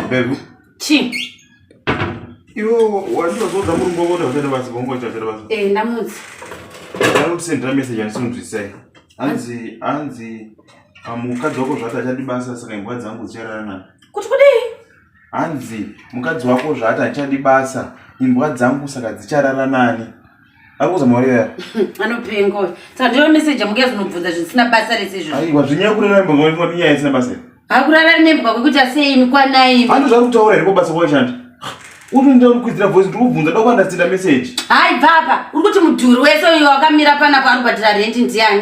Bevu. Chi. Iwe wandozodza murumbo kuti wachada basi bongo chachada basi. Eh ndamudzi. Ndakutosendera message andisinzwisai. Hanzi hanzi pamukadzi wako zvati achadi basa saka imbwa dzangu dzichararana. Kuti kudii? hanzi mukadzi wako zvaati handichadi basa imbwa dzangu saka dzicharara nani akuza maureya anopenga uyu saka ndiyo meseji yamuka yazvinobvunza zvisina basa rese izvo aiwa zvinyaya kurara mbwa kwaifona inyaya isina basa hakurara nembwa kwekuti asei mikwanai handi zvari kutaura here kwabasa kwashanda uti ndida kukwizira voice kuti kubvunza doko andasitira meseji hai bvapa uri kuti mudhuri wese uyo wakamira panapo ari kubatira rendi ndiani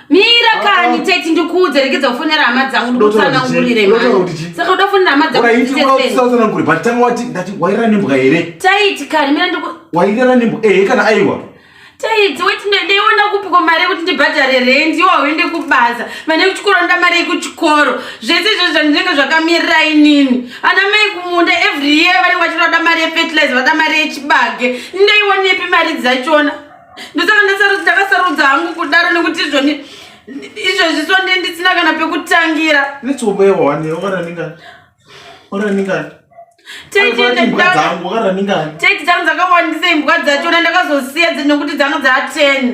mira kani ah, ah. teti ndikuudze rekedza kufonera hama dzangu ndikutsanangurire saka uda kufonera hama dzanguutsanangure but tanga wati ndati wairara nembwa here taiti kani mira ndiku wairara nembwa ehe kana aiwa taiti weti ndeiona kupiko mari yekuti ndibhadhare rendi iwo hauende kubasa mane kuchikoro nda mari yekuchikoro zvese izvozvo zvandinenge zvakamirira inini ana mai kumunda every year vanenge vachinoda mari yefetilize vada mari yechibage ndeionepi mari dzachona ndosaka ndakasarudza hangu kudaro nekuti izvoni izvezvi so ndi ndisina kana pekutangira teti dzangu dzakawandisa imbwa dzachona ndakazosiya nekuti dzanga dzaa ten